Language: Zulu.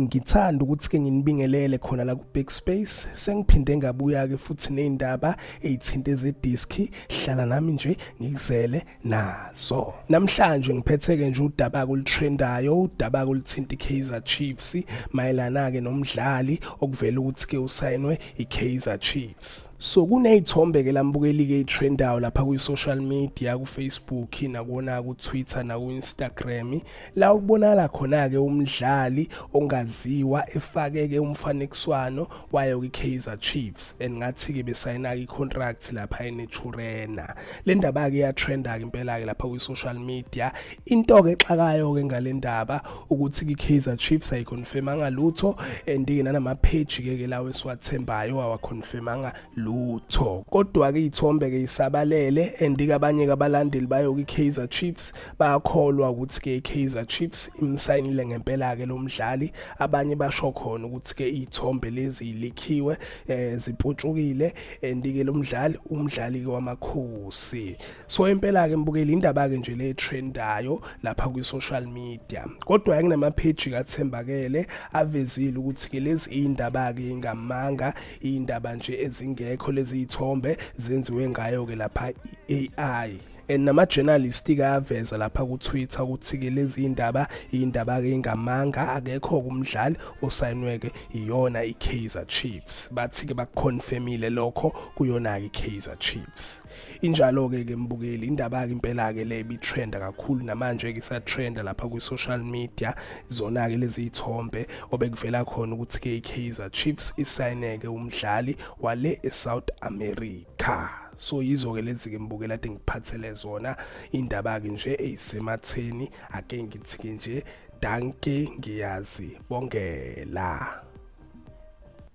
Ngithanda ukuthi ke nginibingelele khona la ku Big Space. Sengiphinde ngabuya ke futhi nezindaba ezithinte ze disc. Hlala nami nje ngikuzele nazo. Namhlanje ngiphethe ke nje udaba kulitrendayo, udaba kulithinta iKaizer Chiefs mayelana ke nomdlali okuvela ukuthi ke usayinwe iKaizer Chiefs. so kuney'thombe ke lambukelike i-trendayo lapha kwi-social media kufacebook nakuwona ku-twitter naku-instagram la ukubonakala khona-ke umdlali ongaziwa efake-ke umfanekiswano wayo kwi-kaizer chiefs and ngathi-ke besayina-ke i-contract lapha eneturena le ndaba-ke iyatrenda-ke impela-ke lapha kwi-social media into ke exakayo ke ngalendaba ukuthi ki Kaizer Chiefs ayi confirmanga lutho and ke nanama page ke ke lawo esiwathembayo awa confirmanga lutho kodwa ke ithombe ke isabalele and ke abanye ke abalandeli bayo ki Kaizer Chiefs bayakholwa ukuthi ke Kaizer Chiefs imsayinile ngempela ke lomdlali abanye basho khona ukuthi ke ithombe lezi likhiwe eh ziputshukile and ke lomdlali umdlali ke wamakhosi so impela ke mbukeli indaba ke nje le trendayo lapha kwi social media kodwa anginama page kathembakele avezile ukuthi ke lezi indaba ke ngamanga indaba nje ezingekho lezi ithombe zenziwe ngayo ke lapha iAI and nama journalist kayaveza lapha ku Twitter ukuthi ke lezi indaba indaba ke ingamanga akekho kumdlali osayinweke iyona iKaizer Chiefs bathi ke bakuconfirmile lokho kuyona iKaizer Chiefs Injalo-ke ke mbukeli indaba-ke impela-ke le ibitrenda kakhulu namanje-ke isatrenda lapha kwi-social media zona-ke lezi iy'thombe obekuvela khona ukuthi-ke i-kaizer chiefs isayineke umdlali wale e-south america so yizo-ke lezi-ke mbukela ade ngiphathele zona indaba-ke nje eyisematheni ake ngithi-ke nje danke ngiyazi bongela